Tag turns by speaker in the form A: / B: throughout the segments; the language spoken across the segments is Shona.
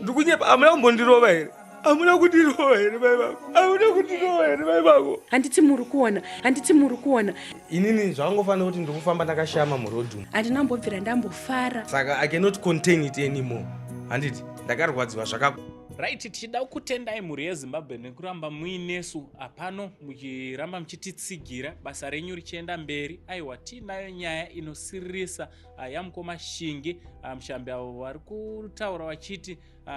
A: ndikunyepa amuna kumbondirova here amuna kundirova here mai vako amuna kundirova here mai vako handiti muri kuona
B: handiti muri kuona inini zvangofanira
A: kuti ndikufamba ndakashama murodhum handina mbobvira
B: ndambofara saka i cannot
A: contain it anymore handiti ndakarwadziwa zvakaku right tichida
C: kutendai mhuri yezimbabwe nekuramba muinesu apano muchiramba muchititsigira basa renyu richienda mberi aiwa tiinayo nyaya inosiririsa uh, yamukoma shingi uh, mushambi avo vari kutaura vachiti uh,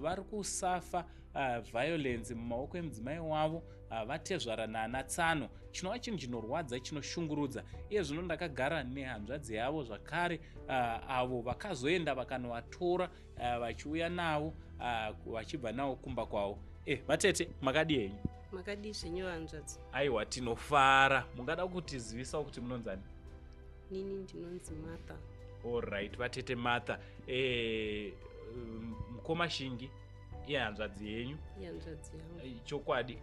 C: vari kusafa uh, violence mumaoko emudzimai wavo uh, vatezvara naana tsano chinova chinhu chinorwadza chinoshungurudza iye zvino ndakagara nehanzvadzi yavo zvakare uh, avo vakazoenda vakanovatora uh, vachiuya navo uh, vachibva navo kumba kwavo eh, vatete makadi henyu makadii zvenyu
D: vanzvadzi aiwa tinofara
C: mungada kutizivisa kuti munonzani nini
D: ndinonzi martha allright
C: vatete martha eh, mkoma shingi ihanzvadzi yenyu ihanzvadzi yangu eh,
D: chokwadi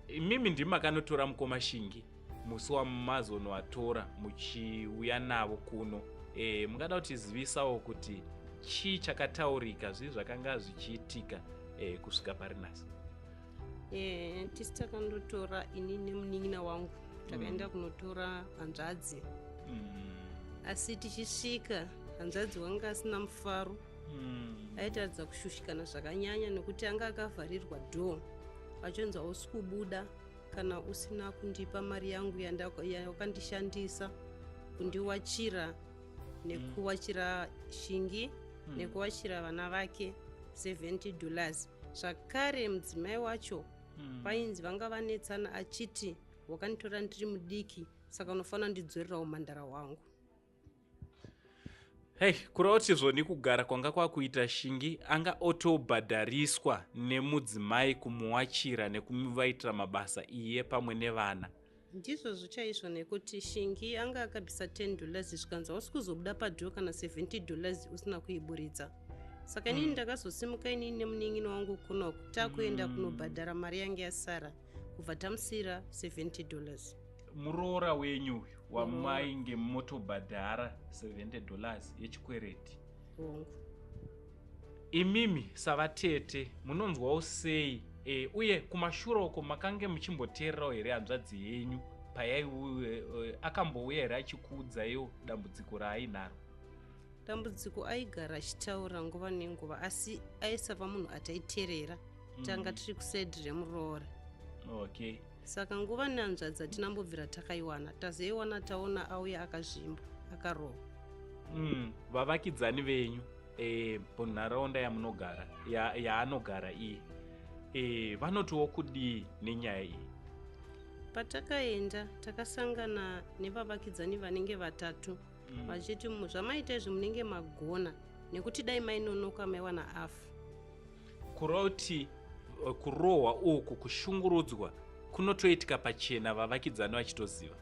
C: imimi ndimi makanotora mkoma shingi musi wamazonoatora muchiuya navo kuno e, mungada kutizivisawo kuti chii chakataurika zvii zvakanga zvichiitika e, kusvika parinasi Eh,
D: tisi takandotora ini nemunin'ina wangu takaenda mm. kunotora hanzvadzi mm. asi tichisvika hanzvadzi wanga asina mufaro mm. aitaridza kushushikana zvakanyanya nekuti anga akavharirwa dho achonzi hausi kubuda kana usina kundipa mari yangu yawakandishandisa kundiwachira nekuwachira shingi mm. nekuwachira vana vake 70 dollars zvakare mudzimai wacho mm. painzi vanga vanetsana achiti wakanditora ndiri mudiki saka unofanira ndidzorera umhandara hwangu
C: hei kureva kuti zvoni kugara kwanga kwakuita shingi anga otobhadhariswa nemudzimai kumuwachira nekumuvaitira mabasa iye pamwe nevana Ndizvozvo
D: chaizvo nekuti Shingi anga akabisa 10 dollars zvikanzi hausi kuzobuda padoor kana 70 dollars usina kuiburitsa. Saka inini mm. ndakazosimuka inini nemunin'ina wangu kunoku takuenda mm. kunobhadhara mari yange yasara kubva tamusira 70 dollars. Muroora
C: wenyu uyu wamainge motobhadhara 70 dollars yechikwereti. Hongu. Imimi savatete munonzwawo sei e, uye kumashura uko makange muchimboteererawo here hanzvadzi yenyu payaiuye e, eh, akambouya here achikuudzaiwo dambudziko raainaro? Dambudziko
D: aigara achitaura nguva nenguva asi aisava munhu ataiterera mm. tanga tiri kuside remuroora. Okay.
C: Saka nguva
D: nehanzvadzi hatinambobvira takaiwana, tazoiwana taona auya akazvimba, akarohwa. Mm, vavakidzani
C: venyu e, munharaunda yamunogara yaanogara ya iye e, vanotiwo kudii nenyaya iyi?
D: Patakaenda takasangana nevavakidzani vanenge vatatu mm. vachiti zvamaita izvi munenge magona nekuti dai mainonoka maiwana afu Kuroti
C: eh, kurohwa uku kushungurudzwa kunotoitika pachena vavakidzani vachitoziva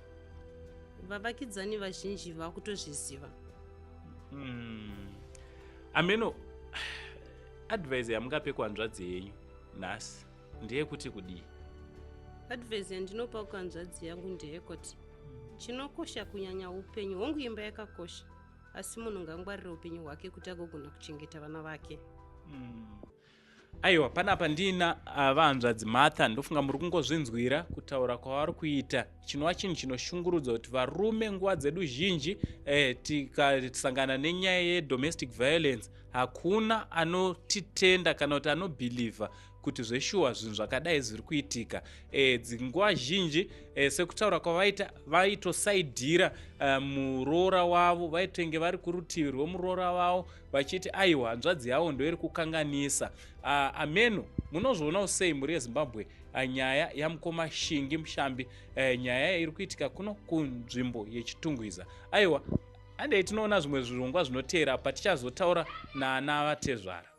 D: vavakidzani vazhinji vakutozviziva mm.
C: ameno advise yamungape kuhanzvadzi yenyu nhasi ndeyekuti kudii advise
D: yandinopa kuhanzvadzi yangu ndeyekuti chinokosha kunyanya upenyu hongu imba yakakosha asi munhu ngangwarire upenyu hwake kuti agogona kuchengeta vana vake mm. aiwa
C: panapa ndina ah, vahanzvadzi martha ndofunga muri kungozvinzwira kutaura kwavari kuita chinova chinhu chinoshungurudza kuti varume nguva dzedu zhinji eh, tikasangana nenyaya yedomestic violence hakuna anotitenda kana kuti anobhilivha kuti zveshuwa zvinhu zvakadai zviri kuitika e, dzinguva zhinji e, sekutaura kwavaita vaitosaidhira e, muroora wavo vaitenge vari kurutivi rwemuroora wavo vachiti aiwa hanzvadzi yavo ndoiri kukanganisa ameno munozvionawo sei mhuri yezimbabwe nyaya yamukoma shingi mushambi e, nyaya yairi kuitika kuno kunzvimbo yechitungwiza aiwa andei tinoona zvimwe zvirongwa zvinoteera patichazotaura naana vatezvara